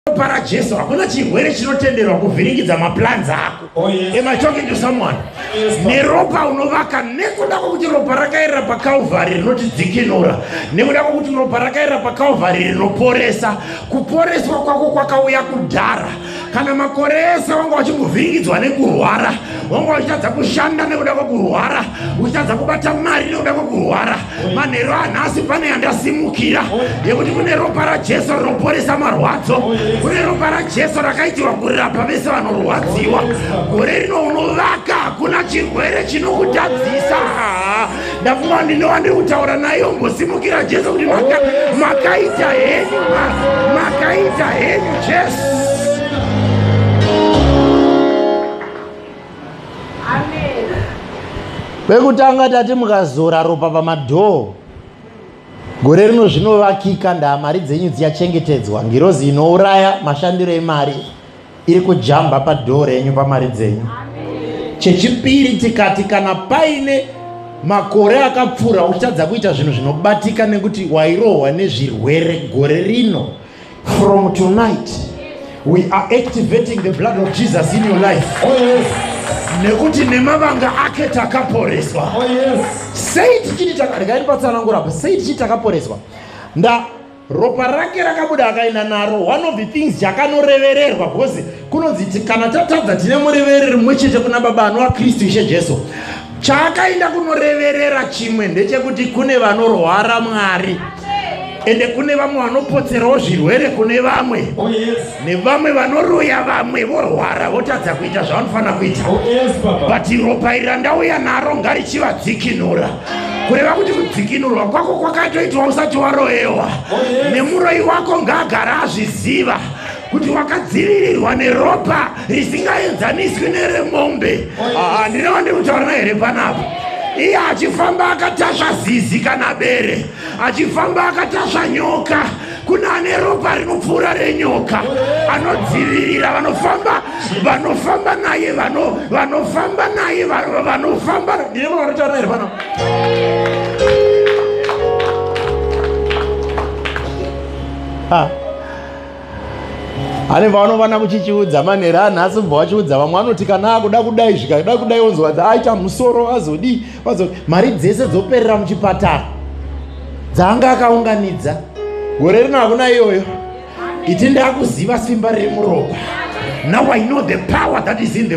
ropa rajesu hakuna chirwere chinotenderwa kuvhiringidza maplans ako oh, yes. am i talking to someone yes, neropa unovaka nekuda kwekuti ropa rakaerera pakalvari rinotidzikinura nekuda kwekuti ropa rakaerera pakalvari rinoporesa kuporeswa kwako kwakauya kudhara kana makore ese wanga wachingovhiringidzwa nekurwara wanga wachitadza kushanda nekuda kwekurwara uchitadza kubata mari nekuda kwekurwara manheru anhasi pane yandasimukira yekuti kune ropa rajesu rinoporesa marwadzo kune ropa rajesu rakaitirwa kurapa vese vanorwadziwa gore rino unovaka hakuna chirwere chinokutadzisa ndafunga ndine wandiri kutaura naye umbosimukira jesu kuti makaita henyu makaita henyu jesu vekutanga tati mukazora ropa pamadhoo gore rino zvinovakika ndaa mari dzenyu dziyachengetedzwa ngirozi inouraya mashandiro emari iri kujamba padhoo renyu pamari dzenyu chechipiri tikati kana paine makore akapfuura uchitadza kuita zvinhu zvinobatika nekuti wairohwa nezvirwere gore rino From tonight we are activating the blood of Jesus in your life. Oh yes. Nekuti nemavanga ake takaporeswa. Oh yes. Sei tichiti takarega iri patsanangura apa. Sei tichiti takaporeswa. Nda ropa rake rakabuda akaenda naro one of the things jakanorevererwa because kunonzi ti- kana tatadza tine murevereri mumwe chete kuna baba anova kristu ishe jesu chaakaenda kunoreverera chimwe ndechekuti kune vanorwara mwari ende kune vamwe vanopotserawo zvirwere kune vamwe Oh yes. nevamwe vanoroya vamwe vorwara votadza kuita zvavanofanira kuita Oh yes, Baba. but ropa iri randauya naro ngarichivadzikinura kureva kuti kudzikinurwa kwako kwakatoitwa usati waroyewa Oh, yes. nemuroyi wako ngaagara azviziva kuti wakadzivirirwa neropa risingaenzaniswi neremombe haa ndinova ndikutaurana here panapa iye achifamba akatasva zizi kana bere achifamba akatasva nyoka kune ane ropa rinopfuura renyoka anodzivirira vanofamba vanofamba naye vanofamba naye vanofamba ndinova vanotaurana here panapa ah. ane vanovana muchichiudza manhera anhasi mva vachiudza vamwe anoti kana akuda kudai zvikada kudai onzwa aita musoro azodii vazo mari dzese dzoperera muchipatara dzaanga akaunganidza gore rino hakuna iyoyo iti ndakuziva simba riri muropa now i know the power that is in the